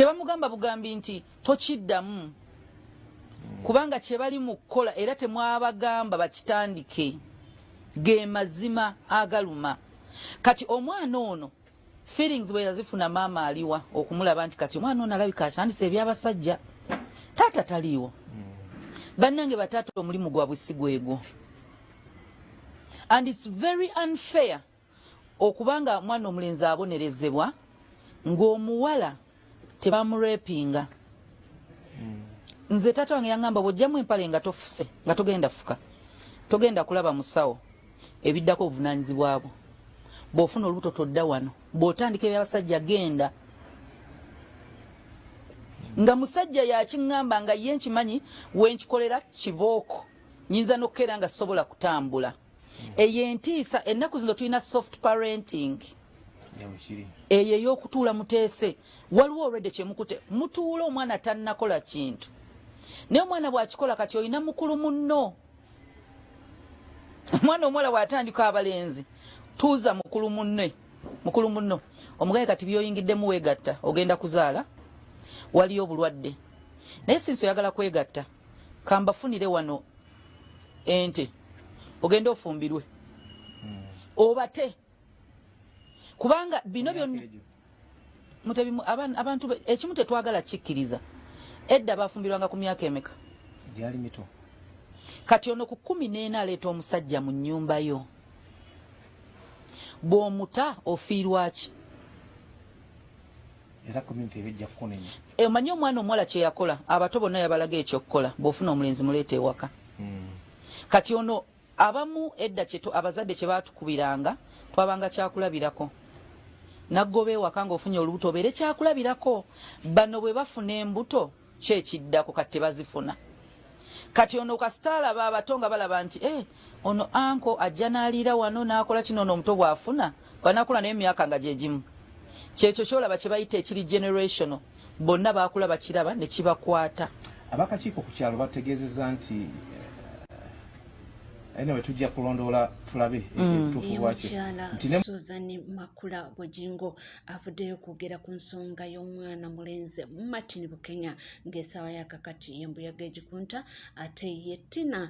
tebamugamba bugambi nti tokiddamu hmm. kubanga kyebali mu kukola era temwabagamba bakitandike ge mazima agaluma kati omwana ono feelings bwe yazifuna maama aliwa okumulaba nti kati omwana ono alabika akyandisa ebyabasajja taata taliiwo hmm. bannange bataata omulimu gwabwe si gwegwo and it's very unfair okuba nga mwana omulenzi abonerezebwa ng'omuwala tebamurepinga hmm. nze taata wange yaŋamba bwojjamu empale nga tofuse nga togenda fuka togenda kulaba musawo ebiddako obuvunanyizibwa bwo bwofuna olubuto todda wano bwotandika ebyabasajja genda nga musajja yakiŋamba nga ye nkimanyi wenkikolera kibooko nyinza nokukeera nga sobola kutambula eyo entiisa ennaku zino tulina soft parenting eyo ey'okutuula muteese waliwo olwedde kyemukute mutuula omwana tannakola kintu naye omwana bw'akikola kati olina mukulu munno omwana omuwala bw'atandika abalenzi tuuza mukulu munne mukulu munno omugaye kati byoyingiddemu weegatta ogenda kuzaala waliyo obulwadde naye sinsi oyagala kwegatta kambafunire wano ente ogende ofumbirwe hmm. obate kubanga bino byonna mutebi abantu ekimu tetwagala kikkiriza edda bafumbirwanga ku myaka emeka gyali mito kati ono ku kumi neena aleeta omusajja mu nnyumba yo bw'omuta ofiirwaki Eh, omanyi omwana omuwala kyeyakola abato bonna yabalaga ekyokukola bwofuna omulenzi muleeta ewaka hmm. kati ono abamu edda abazadde kyebatukubiranga twabanga kyakulabirako naggoba ewaka ngaofunye olubuto obeere kyakulabirako bano bwebafuna embuto Ki ekiddako kati tebazifuna. Kati ono kasita alaba abato nga balaba nti eh, ono anko ajja n'aliira wano n'akola kino ono omuto bw'afuna bw'anaakula naye emyaka nga gye gimu. Kyekyo kyolaba kye bayita ekiri generational bonna baakula bakiraba ne kibakwata. Abakakiiko ku kyalo bategeezezza nti anyway eh, tujja kulondoola tulabe mm. ebituufu bwakyo. Suzan Makula Bujingo avuddeyo okwogera ku nsonga y'omwana mulenzi martin bukenya ng'esaawa yakakati yembuyaga egikunta ate ye tina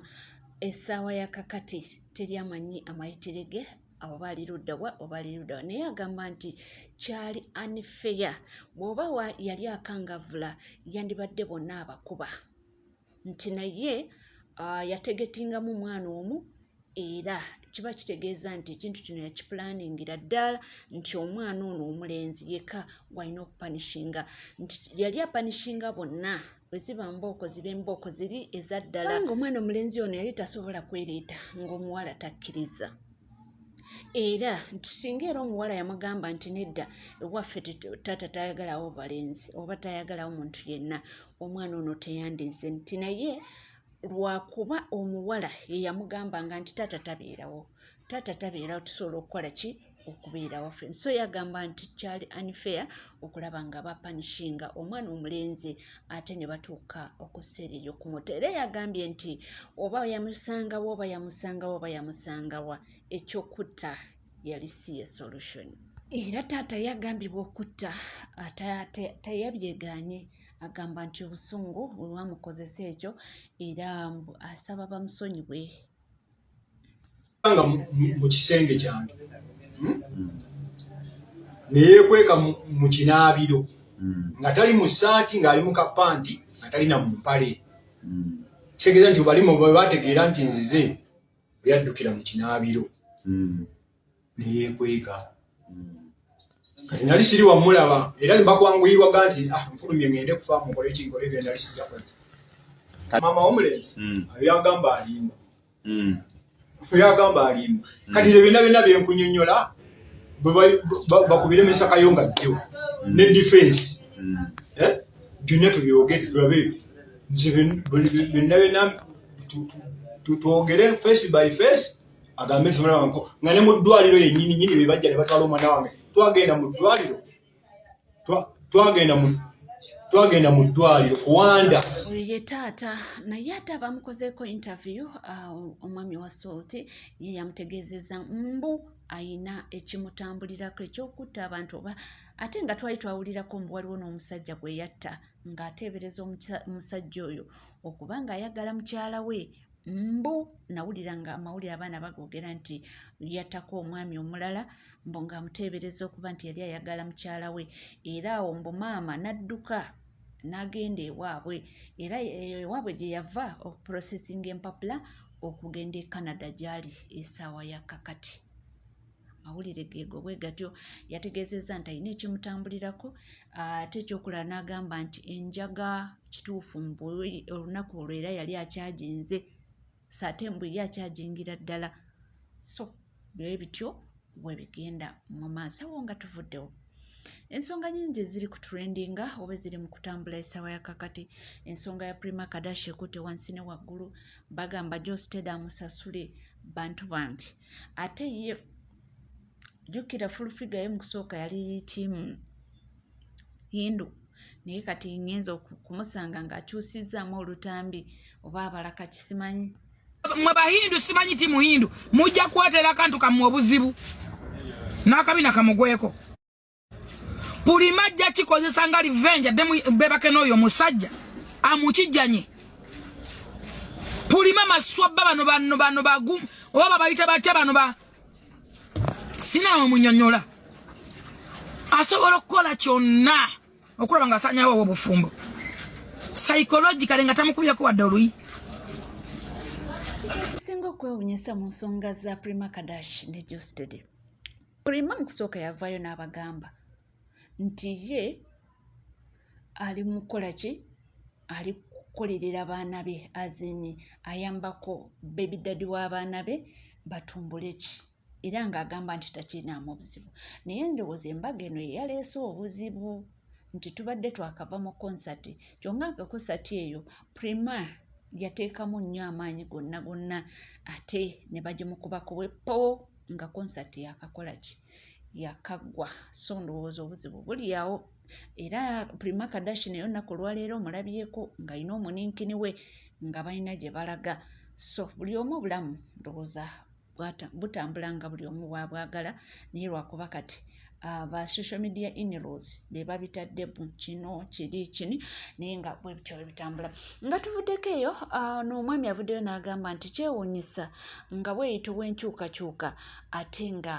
esaawa yakakati teri amanyi amayitire ge abo baali luddawa obaali luddawa naye agamba nti kyali anifeya bw'oba yali akangavula yandibadde bonna abakuba nti naye uh, yategetingamu omwana omu era kiba kitegeeza nti ekintu kino yakipulaningira ddala nti omwana ono omulenzi yeka walina okupanishinga nti yali apanishinga bonna bweziba mbooko ziba embooko ziri eza ddala nga omwana omulenzi ono yali tasobola kwereeta ng'omuwala takkiriza era nti singa era omuwala yamugamba nti nedda ewaffe taata tayagalawo balenzi oba tayagalawo muntu yenna omwana ono teyandizze nti naye lwakuba omuwala yeyamugambanga nti taata tabeerawo taata tabeerawo tusobola okukola ki okubeera waffe so yagamba nti kyali unfair okulaba nga bapanishinga omwana omulenzi ate ne batuuka okuseera eyo kumuta era yagambye nti oba yamusangawo oba yamusangawo oba yamusangawa ekyokutta yali si ye solution era taata yagambibwa okutta teyabyeganye agamba nti obusungu olwamukozesa ekyo era asaba bamusonyiwe nga mu kisenge kyange hmm? neyekweka mu kinaabiro hmm. nga tali mu saati ng'ali mu kapanti nga talina mu mpale hmm. kitegeeza nti balimu bwe bategeera nti nzize bwe yaddukira mu kinaabiro hmm. ne yeekweka hmm. kati nali siri wamulaba era ne bakwanguyirwaga nti ah, nfulumye ngende kufa mukole kinkole bye nali sijakola maama womulenzi hmm. ayo yagamba alimba oyo agamba alimba kati ebyo byonna byonna bye nkunyonnyola bakubire mesaka yo nga jjo mm. ne defense mm. eh? byonna tubyogere tulabe nze byonna byonna twogere face by face agambe nti mwana wange nga ne mu ddwaliro yennyini nyini be bajja ne batwala omwana wange twagenda mu ddwaliro twagenda mu twagenda mu ddwaliro kuwanda oyo ye taata naye ate abamukozeeko interview ah, omwami wa salt ye yamutegeezeza mbu ayina ekimutambulirako ekyokutta abantu oba ate nga twali twawulirako mbu waliwo n'omusajja gwe yatta ng'ateebereza omusajja oyo okuba ng'ayagala mukyala we mbu nawulira nga amawulire abaana bagoogera nti yattako omwami omulala mbu ng'amuteebereza okuba nti yali ayagala mukyala we era awo mbu maama n'adduka n'agenda ewaabwe era ewaabwe gye yava okuprosesinga empapula okugenda e canada gy'ali esaawa ya kakati amawulire geego bwe gatyo yategeezezza nti alina ekimutambulirako ate ekyokulala n'agamba nti enjaga kituufu mbu olunaku olwo era yali akyaginze saate mbu ye akyajingira ddala so bye bityo bwe bigenda mu maaso awo nga tuvuddewo ensonga nyingi eziri ku trendinga oba eziri mu kutambula esaawa ya kakati ensonga ya prima kadashi ekutte wansi ne waggulu bagamba josteda amusasule bantu bange ate ye jukira fulfiga ye mukusooka yali tiimu hindu naye kati ngenza okumusanga ngaakyusizaamu olutambi oba abalaka kisimanyi mwe bahindu simanyi ti muhindu mujja kuwatera akantu kamwe obuzibu n'akabina kamugweko pulima ajja kikozesa nga livenja dde bebake n'oyo omusajja amukijjanye pulima maswabba bano bano bano bagu oba babayita batya bano ba sinawe munyonyola asobola okukola kyonna okulaba nga asanyawo obwo obufumbo psychologicale nga tamukubyako wadde oluyi singa okwewunyisa mu nsonga za prima kadash ne jostede Prima mu kusooka yavaayo n'abagamba nti ye ali mu kukola ki ali kukolerera baana be azini ayambako bebi dadi w'abaana be batumbule ki era ng'agamba nti takirinaamu obuzibu naye ndowooza embaga eno yeyaleese obuzibu nti tubadde twakava mu konsati kyonga nga konsati eyo prima yateekamu nnyo amaanyi gonna gonna ate ne bagimukubako wepo nga konsati yakakola ki yakaggwa so ndowooza obuzibu buli awo era prima kadashi naye olunaku olwaleero omulabyeko ng'alina omuninkini we nga balina gye balaga so buli omu obulamu ndowooza butambula nga buli omu waabwagala naye lwakuba kati aba ah, social media inrows be babitadde mu kino kiri kini naye nga bwe bityo bwe bitambula nga tuvuddeko eyo ah, n'omwami avuddeyo n'agamba nti kyewuunyisa nga bweyita obw'enkyukakyuka ate nga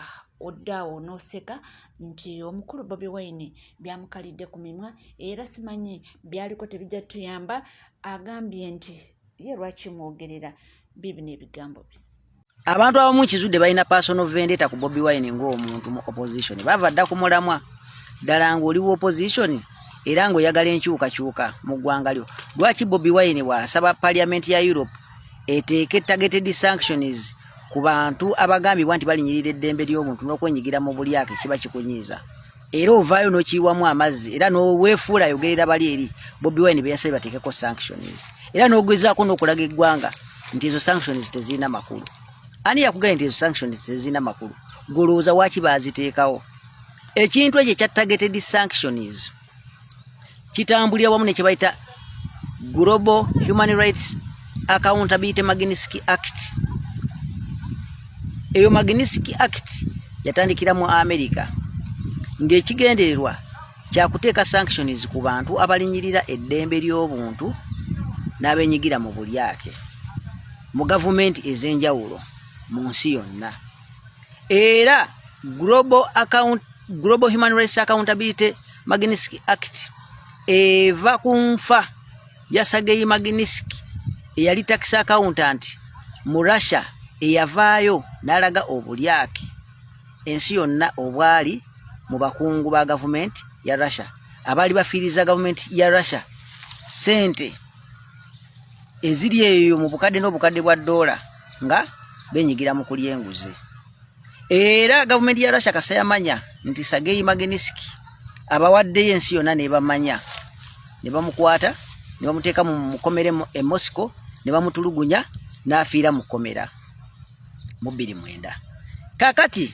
oddaawo n'oseka nti omukulu bobi wine byamukalidde ku mimwa era simanyi byaliko tebijja tuyamba agambye nti ye lwaki mwogerera bibi n'ebigambo bye abantu abamu kizudde balina personal vendetta ku bobi wine ng'omuntu mu opposition bava dda ku mulamwa ddala ng'oli wa opposition era ng'oyagala enkyukakyuka mu ggwanga lyo lwaki bobi wine bw'asaba parliament ya europe eteeke targeted sanctions ku bantu abagambibwa nti balinyirira eddembe ly'obuntu n'okwenyigira mu bulyake kiba kikunyiiza era ovaayo n'okiyiwamu amazzi era n'oweefuula ayogerera bali eri bobi wine be yasabye bateekeko sanctions era n'ogezaako n'okulaga eggwanga nti ezo sanctions tezirina makulu ani yakugambye nti ezo sanctions tezirina makulu golowooza waaki baaziteekawo ekintu ekyo ekya targeted sanctions kitambulira wamu ne kye bayita global human rights accountability magnitsky act eyo magnitsky act yatandikira mu america ng'ekigendererwa kyakuteeka sanctions ku bantu abalinyirira eddembe ly'obuntu n'abenyigira mu bulyake mu gavumenti ez'enjawulo mu nsi yonna era global, account, global human rights accountability magnitsky act eva ku nfa ya sageyi magnitsky eyali tax accountant mu russia eyavaayo n'alaga obulyake ensi yonna obwali mu bakungu ba gavumenti ya russia abaali bafiiriza gavumenti ya russia sente eziri eyo mu bukadde n'obukadde bwa doola nga benyigira mu kulya enguzi era gavumenti ya russia kasa yamanya nti sageyi mageniski abawaddeyo ensi yonna nebamanya ne bamukwata ne bamuteeka mu mukomere e moscow ne bamutulugunya n'afiira mu kkomera mu bbiri mwenda kakati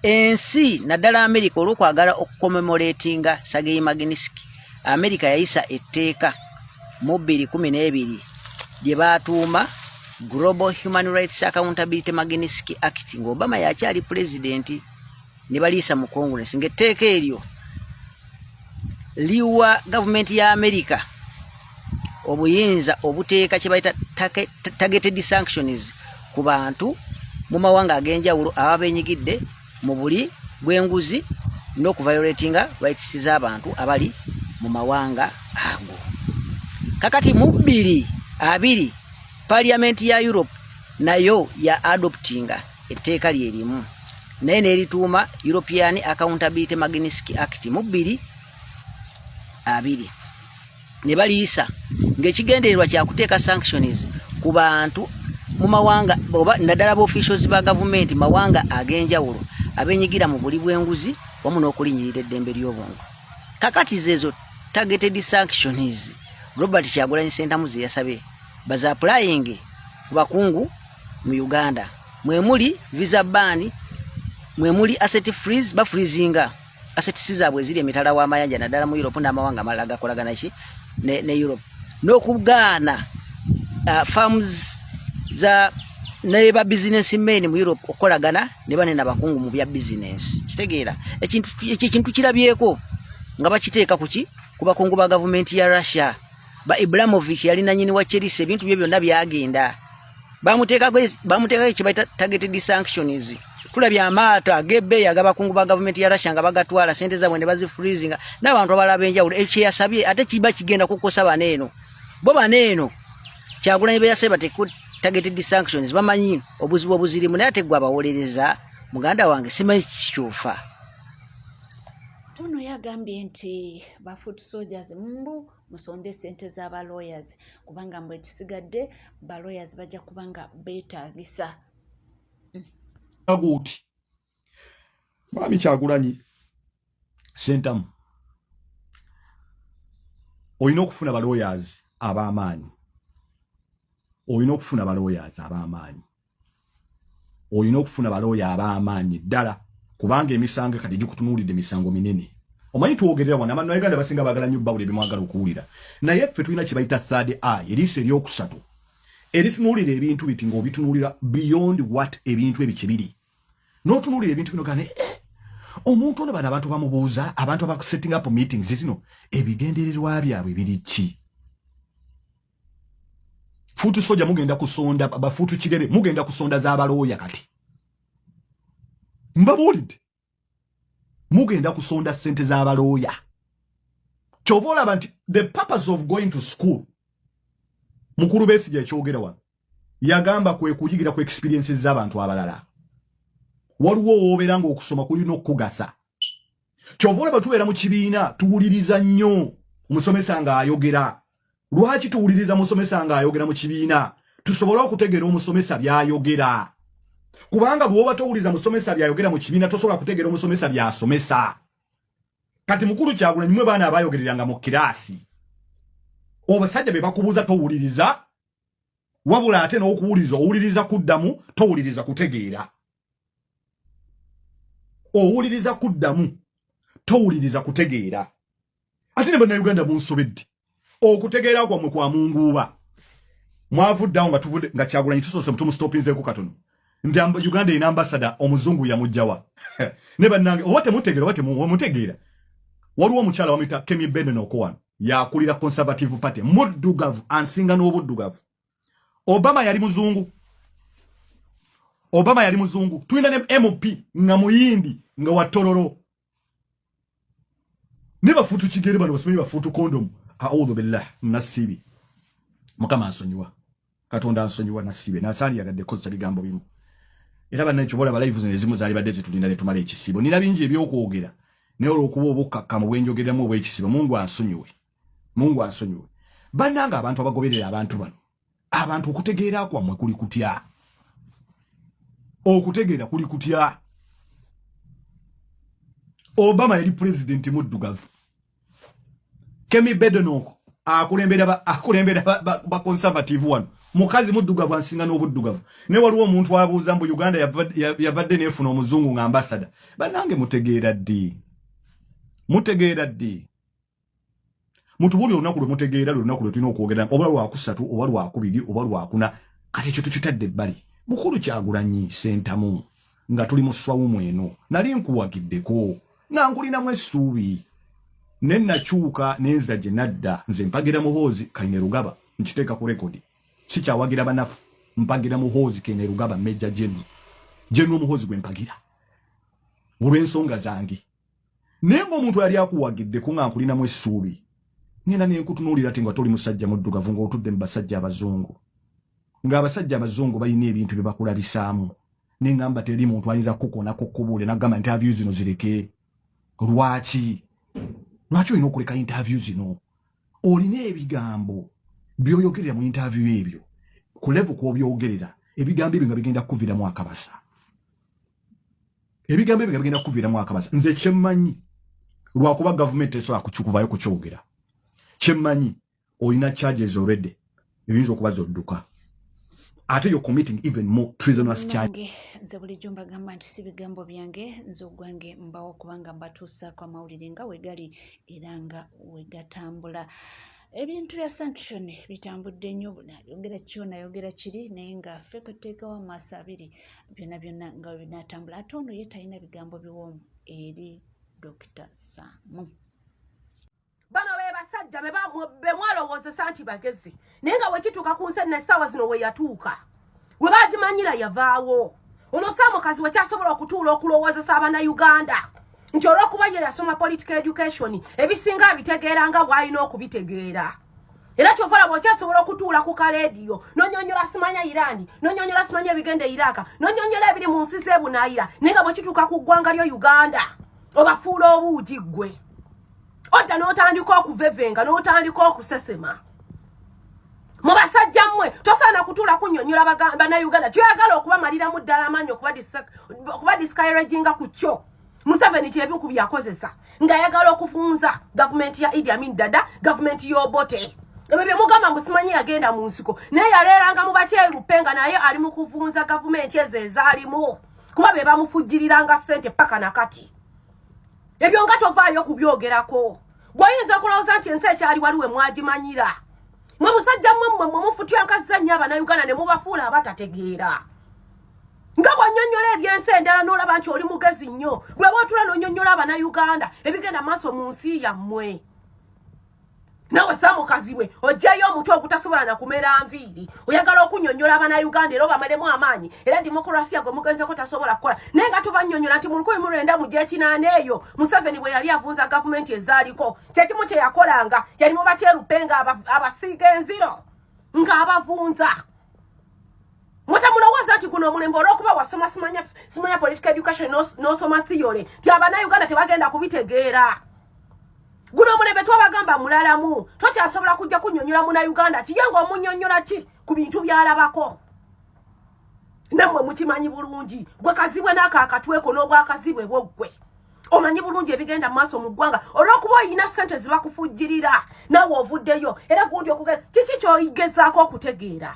ensi naddala amerika olwokwagala okukomemoletinga sageyi maginiski amerika yayisa etteeka mu bbiri kumi n'ebiri lye baatuuma global human rights accountability maginiski act nga obama yakyali pulezidenti ne baliisa mu congress ngaetteeka eryo liwa gavumenti ya amerika obuyinza obuteeka kyebayita targeted sanctions ku bantu mu mawanga ag'enjawulo aba benyigidde mu buli bw'enguzi n'okuviolatinga rights z'abantu abali mu mawanga ago kakati mu bbiri abiri parliament ya europe nayo ya adoptinga etteeka lye limu naye n'erituuma european accountability magniski act mu bbiri abiri ne baliyisa ng'ekigendererwa kya kuteeka sanctions ku bantu mu mawanga oba naddala ba officials ba gavumenti mawanga ag'enjawulo abenyigira mu buli bw'enguzi wamu n'okulinyirira eddembe ly'obuntu kakati zeezo targeted sanctions robert kyagulanyi sentamu ze yasabye baza applying ku bakungu mu uganda mwemuli visa ban mwemuli asset freeze ba freezinga asset sizaabwe eziri emitala w'amayanja naddala mu europe n'amawanga amalala gakolagana ki ne, ne europe n'okugaana uh, farms za naye ba business men mu europe okukolagana ne bane nabakungu mu bya business kitegeera ekintu ekintu kirabyeko nga bakiteeka kuki ku bakungu ba gavumenti ya russia ba ibramovic yali nanyini wa chelsea ebintu bye byonna byagenda bamuteekako bamuteekako ekibaita targeted sanctions tulabye amaato agebeeyi agabakungu ba gavumenti ya russia nga bagatwala sente zabwe ne bazifreezinga n'abantu abalala benjawulo ekyo yasabye ate kiba kigenda kukosa bana eno bo bana eno kyagulanyi beyasabye bateeko targeted sanctions bamanyi obuzibu obuzirimu naye ate gwe abawolereza muganda wange simanyi kikyufa tuno yagambye nti bafutu soldiers mbu musonde esente z'aba lawyers kubanga mbu ekisigadde ba lawyers bajja kuba nga beetaagisa aguuti mwami kyagulanyi sentamu olina okufuna ba lawyers ab'amaanyi olina okufuna ba lawyers ab'amaanyi olina okufuna balooya ab'amaanyi ddala kubanga emisango kati gikutunuulidde misango minene omanyi twogerera wano abantu nauganda basinga bagala nnyo bawula ebimwagala okuwulira naye ffe tulina kye bayita third eye eriiso eryokusatu eritunuulira ebintu biti ng'obitunuulira beyond what ebintu ebyo kye biri n'otunuulira ebintu bino gane eh, omuntu ono bano abantu bamubuuza abantu abakusetting up meetings zino ebigendererwa byabwe biri ki futu soja mugenda kusonda bafutu kirebe mugenda kusonda za balooya kati mbabuulidde mugenda kusonda sente za balooya kyova olaba nti the purpose of going to school mukulu besi gyekyogera wano yagamba kwe kuyigira ku experiences z'abantu abalala waliwo woobera nga okusoma kulina okukugasa kyova olaba tubeera mu kibiina tuwuliriza nnyo omusomesa ng'ayogera lwaki tuwuliriza musomesa ng'ayogera mu kibiina tusobole okutegeera omusomesa by'ayogera kubanga bw'oba towuliriza musomesa by'ayogera mu kibiina tosobola kutegeera omusomesa by'asomesa kati mukulu kyagulanyi mwe baana abayogereranga mu kiraasi obasajja be bakubuuza towuliriza wabula ate n'okuwuliriza owuliriza kuddamu towuliriza kutegeera owuliriza kuddamu towuliriza kutegeera ate ne bannayuganda munsobedde okutegeera kwammwe kwa munguuba mwavuddeawo nga tuvudde nga kyagulanyi tusoose mutumusitopinzeeko katono nti uganda erina ambasada omuzungu yamujjawa ne bannange oba temutegeera oba temutegeera waliwo omukyala wamuyita kemi benen okuwano yakulira conservative party muddugavu ansinga n'obuddugavu Obama yali muzungu. Obama yali muzungu. Tuina ne MOP nga muyindi nga watororo. Neba futu chigere bano basome ba futu condom. A'udhu billah nasibi. Mukama asonyiwa. Katonda asonyiwa nasibe. Nasali yagadde kosa bigambo bimu. Era banne kyobola ba live zino ezimu zali badde zitulinda ne tumala ekisibo. Nina bingi ebyokwogera. Naye olwokuba obukkakkamu bwenjogeremu obwekisibo Mungu asonyiwe. mungu ansonyiwe bananga abantu abagoberera abantu bano abantu okutegeera kwamwe kuli kutya okutegeera kuli kutya obama yali pulezidenti muddugavu kemi bedonoko akulembera baconservative wano mukazi muddugavu ansinga n'obuddugavu ne waliwo omuntu abuuza mbu uganda yavadde nefuna omuzungu nga ambasada banange mutegeera ddi mutegeera ddi muntu buli olunaku lwe mutegeera lwe lunaku lwe tulina okwogera oba lwakusatu oba lwakubiri oba lwakuna kati ekyo tukitadde ebbali mukulu kyagulanyi sentamu nga tuli mu swawumu eno nali nkuwagiddeko nga nkulinamu essuubi ne nakyuka nenzira gye nadda nze mpagira muhoozi kaine rugaba nkiteeka ku rekodi sikyawagira banafu mpagira muhoozi kaine rugaba meja genu genu omuhoozi gwe mpagira olw'ensonga zange naye ng'omuntu yali akuwagiddeko nga nkulinamu essuubi ngenda nenkutunuulira ti nga toli musajja muddugavu ng'otudde mu basajja abazungu ng'abasajja abazungu balina ebintu bye bakulabisaamu naye ngamba teri muntu ayinza kukukonako kubuule nagamba interview zino zireke lwaki lwaki olina okuleka interview zino olina ebigambo byoyogerera mu interview ebyo kulevu kwobyogerera ebigambo ebyo nga bigenda kukuviramu akabasa ebigambo ebyo bigenda kukuviiramu akabaza nze kyemmanyi lwakuba gavumenti esobola kukikuvayo kukyogera kyemmanyi olina charges already eyinza okuba zodduka ate yo committing even more treasonous charge nze bulijjo mbagamba nti si bigambo byange nze ogwange mbawo kubanga mbatuusaako amawulire nga wegali era nga wegatambula ebintu bya sanction bitambudde nnyo ayogera kyona ayogera kiri naye nga ffe kweteekawo amaaso abiri byonna byonna nga binatambula ate ono ye talina bigambo biwoomu eri dokita samu bano be basajja bemwalowoozesa nti bagezi naye nga wekituuka ku nsi nessaawa zino weyatuuka we bagimanyira yavaawo ono samukazi wekyasobola okutuula okulowoozesa abana uganda nti olwokuba ye yasoma political education ebisinga abitegeera nga bwalina okubitegeera era kyovala bwokyasobola okutuula ku kalediyo nonyonyola simanya irani nonyonyola simanya ebigenda e iraka nonyonyola ebiri mu nsi zebunayira naye nga bwekituuka ku ggwanga lyo uganda obafuula obuugi ggwe odda n'otandika okuvevenga n'otandika okusesema mu basajja mmwe tosaana kutuula kunyonyola banauganda kyoyagala okubamaliramu ddala amaanyi okuba discaraginga ku kyo museveni kyebiku byakozesa ng'ayagala okufunza gavumenti ya idi amin dada gavumenti y'obote ebyo byemugamba mbu simanyi yagenda mu nsiko naye yaleeranga mu bakyerupe nga naye ali mu kuvunza gavumenti ezo ezaalimu kuba be bamufujjiriranga ssente paka na kati ebyo nga tovaayo okubyogerako gweyinza okulowooza nti ensi ekyali waliwe mwagimanyira mwe musajja mmwe mmwe mwe mufutyankazza nnyo abanauganda ne mubafuula abatategeera nga bwanyonyola ebyensi endala nolaba nti oli mugezi nnyo bweba otula nonyonyola abanauganda ebigenda maaso mu nsi yammwe nawe samukazibwe ojjayo omutu ogutasobola nakumera nviiri oyagala okunyonyola abana uganda era obamalemu amaanyi era dimokurasia gwe mugenzeko tasobola kukola naye nga tubanyonyola nti mulukumi mulwenda mu gyekinaana eyo museveni bwe yali avunza gavumenti ezaaliko kyekimu kyeyakolanga yali mubaterupe nga abasiiga enziro ng'abavunza mutemulowooza nti guno omulembe olwokuba wasoma simanya simanya political education nosoma theory ti abana uganda tebagenda kubitegeera guno omulembe twabagamba mulalamu tokyasobola kujja kunyonyola muna uganda kiye nga omunyonyola ki ku bintu byalabako nammwe mukimanyi bulungi gwe kazibwe n'ako akatweko n'obwakazibwe bwoggwe omanyi bulungi ebigenda maaso mu ggwanga olwokuba olina sente zibakufujjirira nawe ovuddeyo era gundi okugenda kiki kyogezaako okutegeera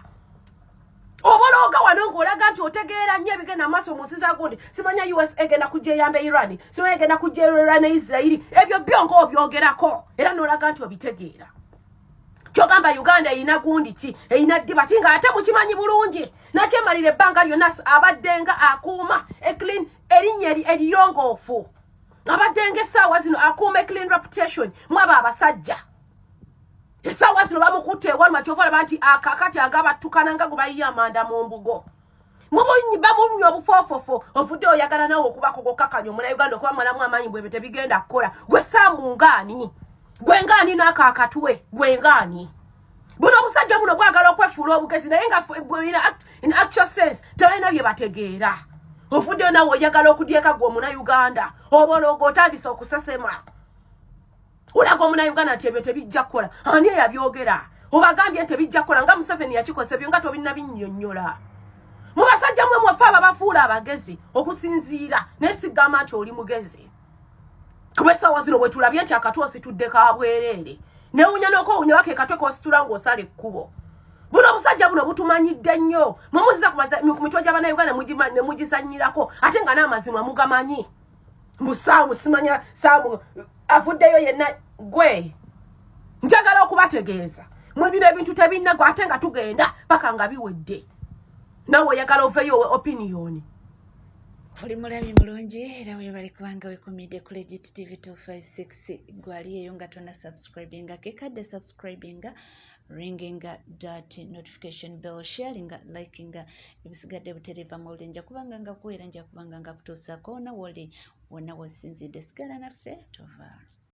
obolooga wano ngaolaga nti otegeera nnyo ebigenda maaso mu nsi za gundi simanya us egenda kujja eyamba iran simanya egenda kujja era ne isirairi ebyo byo ngaobyogerako era nolaga nti obitegeera kyogamba uganda erina gundi ki erina ddiba ki nga ate mukimanyi bulungi nakyemalira ebbanga lyonna abaddenga akuuma eclean erinnya eriyongoofu abadde nga essaawa zino akuume clean reputation mwaba abasajja essaawa zino bamukutte ewaluma kyova olaba nti akakati agabattukana nga gwe bayiye amanda mu mbugo bamunywa obufoofofo ovudde oyagala nawe okubako gokakanya omuna uganda okuba malamu amaanyi bwebyo tebigenda kukola gwe saamu ngaani gwe ngaani naako akatwe gwe ngaani buno obusajja buno bwagala okwefuula obugezi naye nga in actual sense tebalina bye bategeera ofuddeyo nawe oyagala okudyeka gwe omuna uganda obologo otandise okusesema olaga omuna uganda nti ebyo tebijja kukola ani eyabyogera obagambye nti ebijja kukola nga museveni yakikosa ebyo nga tobinna binnyonnyola mu basajja mwe mwafe ababafuula abagezi okusinziira naye sigamba nti oli mugezi kuba essaawa zino bwe tulabye nti akatu ositudde ka bwereere newunya n'okowunya baka ekatwe kositula ng'osala ekkubo buno obusajja buno butumanyidde nnyo mwemuziza ku mitwe gy'abanauganda ne mugizannyirako ate nga n'amazima mugamanyi mbu saamu simanya saamu avuddeyo yenna gwe njagala okubategeeza mwe bino ebintu tebinnagwa ate nga tugenda paka nga biwedde nawe oyagala oveyo opiniyoni oli mulabi mulungi era webale kubanga wekumidde ku legit tv 256 gwali eyo nga tona subscribinga kekadde subscribinga ringinga dat notification bell sharinga likinga ebisigadde butereeva mu buli nja kubanga nga kuweera nja kubanga nga kutuusako nawoli wonna wosinzidde sigala naffe tovaamu